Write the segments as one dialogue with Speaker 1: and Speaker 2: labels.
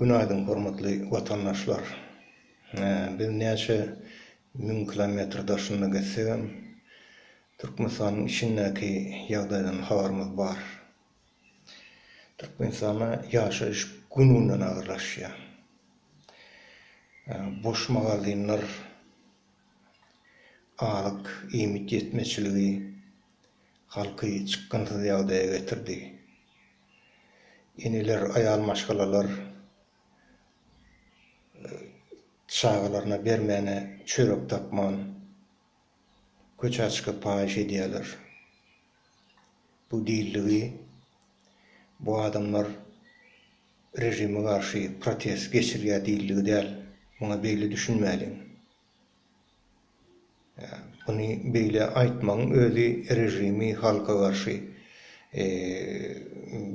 Speaker 1: Günaýdyň hormatly watandaşlar! Biz näçe müň kilometr daşynda gezsegem, Türkmenistanyň içindäki ýagdaýdan habarymyz bar. Türkmenistanda ýaşaýyş gün-günden agyrlaşýar. Boş magazinler, azyk, iýmit ýetmezçiligi halky çykgynsyz ýagdaýa getirdi. Eneler, aýal maşgalalar çagalaryna bermäne çörek tapman, köçä çykyp paýyş edýärler. Bu dilligi, bu adamlar režime garşy protest geçirýär dilligi däl. Muňa beýle düşünmäliň. Muny beýle aýtmagyň özi režimi halka garşy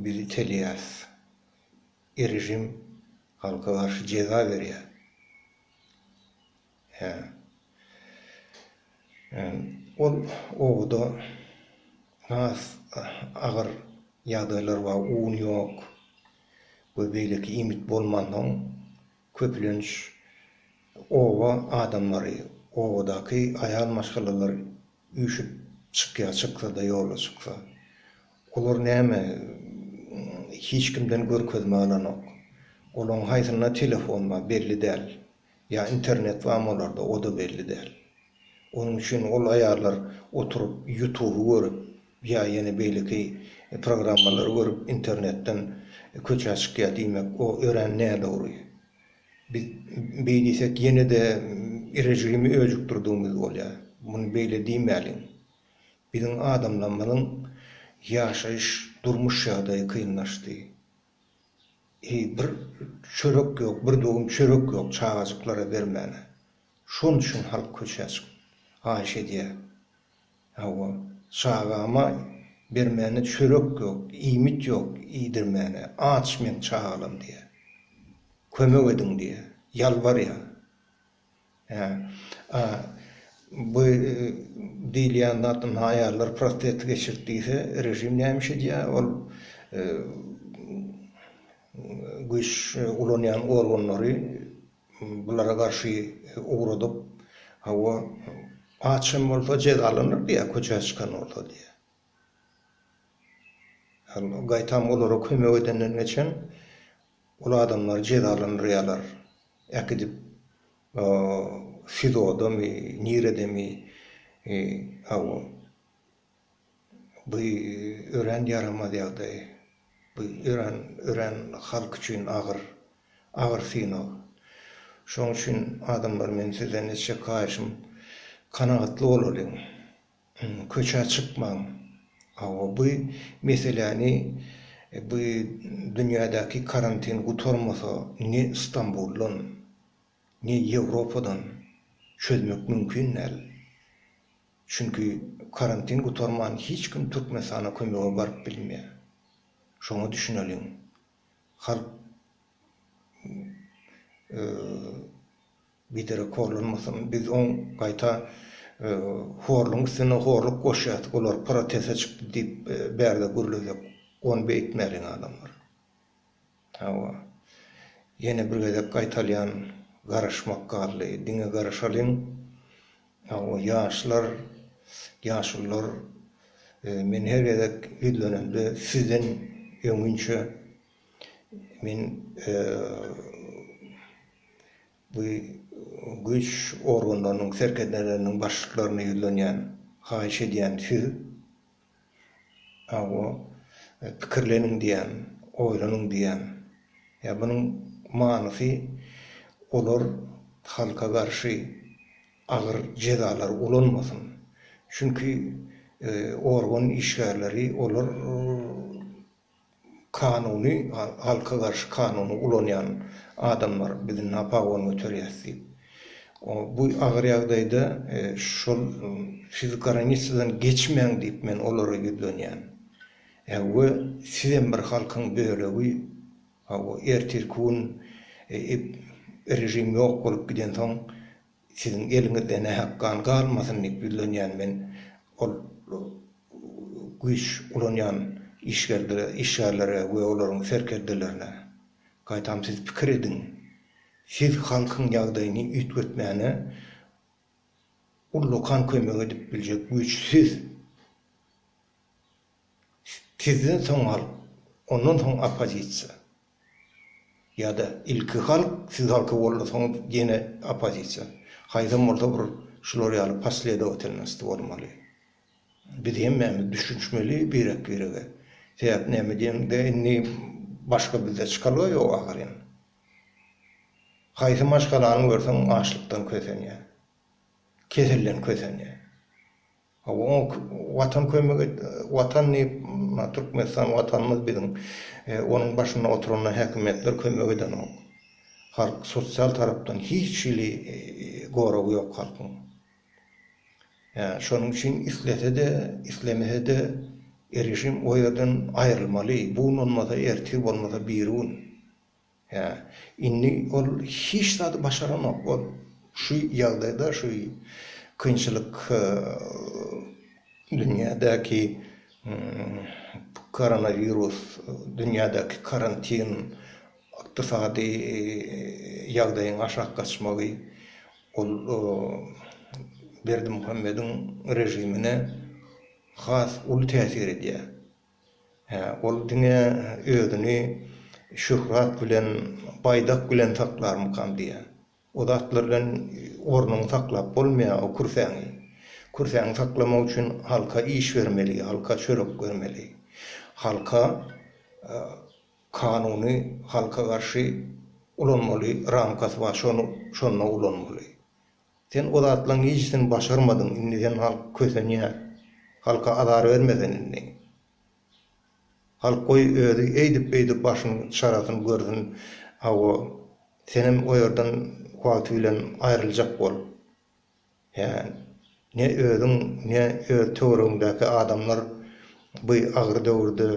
Speaker 1: biz itelýäs. Režim halka garşy jeza berýär. Hä. Ol obada has agyr ýagdaýlar bar. Un ýok we beýleki iýmit bolmansoň. Köplenç oba adamlary, obadaky aýal maşgalalar üýşüp çykýar, çyksa-da, ýola çyksa. Olar näme, hiç kimden görkezme alanok. Olaryň haýsynda telefon bar, belli däl. Ýa internet barmy olarda, o-da belli däl. Onuň üçin ol aýallar oturyp ýutuby görüp ýa ýene beýleki programmalary görüp internetden köçä çykýar diýmek o örän nädogry. Biz beý diýsek ýene-de režimi öjükdirdigimiz bolýar. Muny beýle diýmäliň. Biziň adamlarymyzyň ýaşaýyş durmuş ýagdaýy kynlaşdy. Eý, bir çörek ýok, bir dogum çörek ýok çagajyklara bermäne. Şon üçin halk köçä çykyp, haýyş edýär. Hawa, çagama bermäne çörek ýok, iýmit ýok, iýdirmäne. Aç meň çagalam diýýär. Kömek ediň diýýär. Ýalbarýar. Hä. A bu diýilýän zat indi aýallar prostata geçirip diýse, režim näme iş edýär? Ol güýç ulanýan organlary bulara garşy ugradyp, hawa, aç hem bolsa jezalanyr diýýär, köçä çykan bolsa diýýär. Gaýtam olara kömek edenden geçen Ol adamlar jezalandyrýarlar. Äkidip SIZO-damy, niredemi, hawa. Bu örän ýaramaz ýagdaý. Bu örän, örän halk üçin agyr, agyr synag. Şoň üçin adamlar men sizden etjek haýyşym kanagatly bolalyň. Köçä çykmaň. Hawa bu meseläni bu dünýädäki karantin gutarmasa ne Stambuldan, ne Ýewropadan çözmek mümkin däl. Çünki karantin gutarman hiç kim Türkmenistana kömege baryp bilmeýär. Şoňa düşüneliň. halk biderek horlanmasyn, biz oň gaýta horlugyň üstüne horluk goşýas, olar protese çykdy diýip bärde gürlesek, ony beýtmäliň adamlar. Hawa, ýene bir gezek gaýtalýan, garaşmak galdy, diňe garaşalyň, Hawa, ýaşlar, ýaşulylar, men her gezek ýüzlenemde sizden öňinçe men bu güýç organlarynyň serkerdeleriniň başlyklaryna ýüzlenýän, haýyş edýän, siz, Hawa, pikirleniň diýýän, oýlanyň diýýän. Ýa munuň manysy olar halka garşy agyr jezalary ulanmasyn. Çünki organ işgärleri olar kanuny halka garşy kanuny ulanýan adamlar biz na pagone göterýäs diýip bu agyr ýagdaýda şol siz garanisadan geçmäň diýip men olara ýüzlenýän we sizem bir halkyň bölegi hawa ertirki gün režim ýok bolup gidensoň Siziň eliňizde nähak gan galmasyn diýip ýüzlenýän men ol güýç ulanýan işgärlere we olaryň serkerdelerine. Gaýtam siz pikir ediň, siz halkyň ýagdaýyny üýtgetmäne ullakan kömek edip biljek güýç siz. sizden soň halk, ondan soň oppozisiýa ýa-da ilki halk, siz halka boldy, soň ýene oppozisiýa. Haýsam bolsa bir şular ýaly posledowatilnosti bolmaly. Biz hemmämiz düşünişmeli birek-birege. Sebäp näme diýeniňde indi başga bizde çykalga ýok ahyryn. Haýsy maşgalany görseň açlykdan kösenýär. Keselden kösenýär. Hawa, oňa Watan kömek et, Watan diýip, Türkmenistan Watanymyz biziň. Onuň başynda oturanlar, häkimiýetler kömek edenok. Halk sosial tarapdan hiç hili goragy ýok halkyň. Ýa, şonuň üçin islese-de, islemese-de režim o ýerden aýrylmaly. Bu gün bolmasa, ertir, bolmasa birigün. Hä, indi ol hiç zady başaranok. Ol şu ýagdaýda, şu kynçylyk dünýädäki koronawirus, dünýädäki karantin, ykdysady ýagdaýyň aşak gaçmagy, ol Berdimuhamediň režimine has uly täsir edýär. Hä, ol diňe özüni şöhrat bilen, baýdak bilen saklarmykam diýýän. O zatlar bilen ornuňy saklap bolmaýar, o kürsäňi. Kürsäňi saklamak üçin halka iş bermeli, halka çörek bermeli. Halka kanuny halka garşy ulanmaly, ramkasy bar, şony şonda ulanmaly. Sen o zatlaň hiçisini başarmadyň indi sen halk kösenýä halka azar berme sen indi halk goý özi eýdip beýdip başyny çarasyn görsün hawa senem o ýerden wagty bilen aýryljak bol hä ne öziň ne öz töweregiňdäki adamlar by agyr döwürde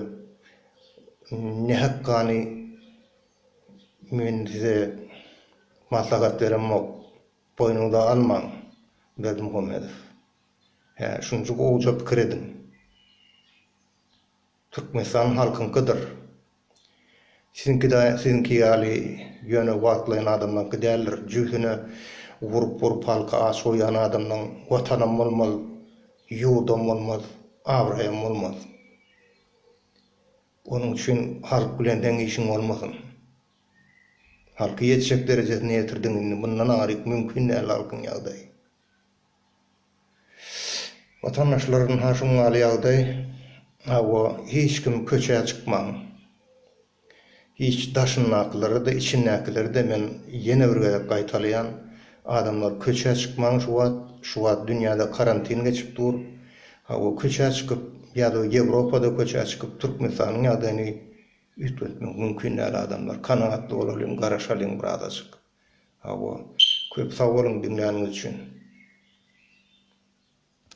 Speaker 1: nähak gany Men size maslahat beremok, boýnuňyza almaň, Berdimuhamedow. Hä, şunça gowja pikir ediň. Türkmenistan halkyňkydyr. Siziňki-de siziňki ýaly ýöne wagtlaýyn adamlaryňky däldir. Jübüsine urup-urup halky aç goýýan adamlaryň watanam bolmaz, ýurdam bolmaz, abraýam bolmaz. Onuň üçin halk bilen deň işiň bolmasyn. Halky ýetjek derejesine ýetirdiň indi mundan aryk mümkin däl halkyň ýagdaýy. Watandaşlar ynha şuň ýaly ýagdaý hawa hiç kim köçä çykmaň. Hiç daşyndakylara-da içindäkilere-de men ýene bir gezek gaýtalaýan adamlar köçä çykmaň şu wagt şu wagt dünýäde karantin geçip dur Hawa köçä çykyp ýa-da Ýewropada köçä çykyp Türkmenistanyň ýagdaýyny üýtgetmek mümkin däl adamlar kanagatly bolalyň garaşalyň bir azajyk. Hawa köp sag boluň diňläniňiz üçin.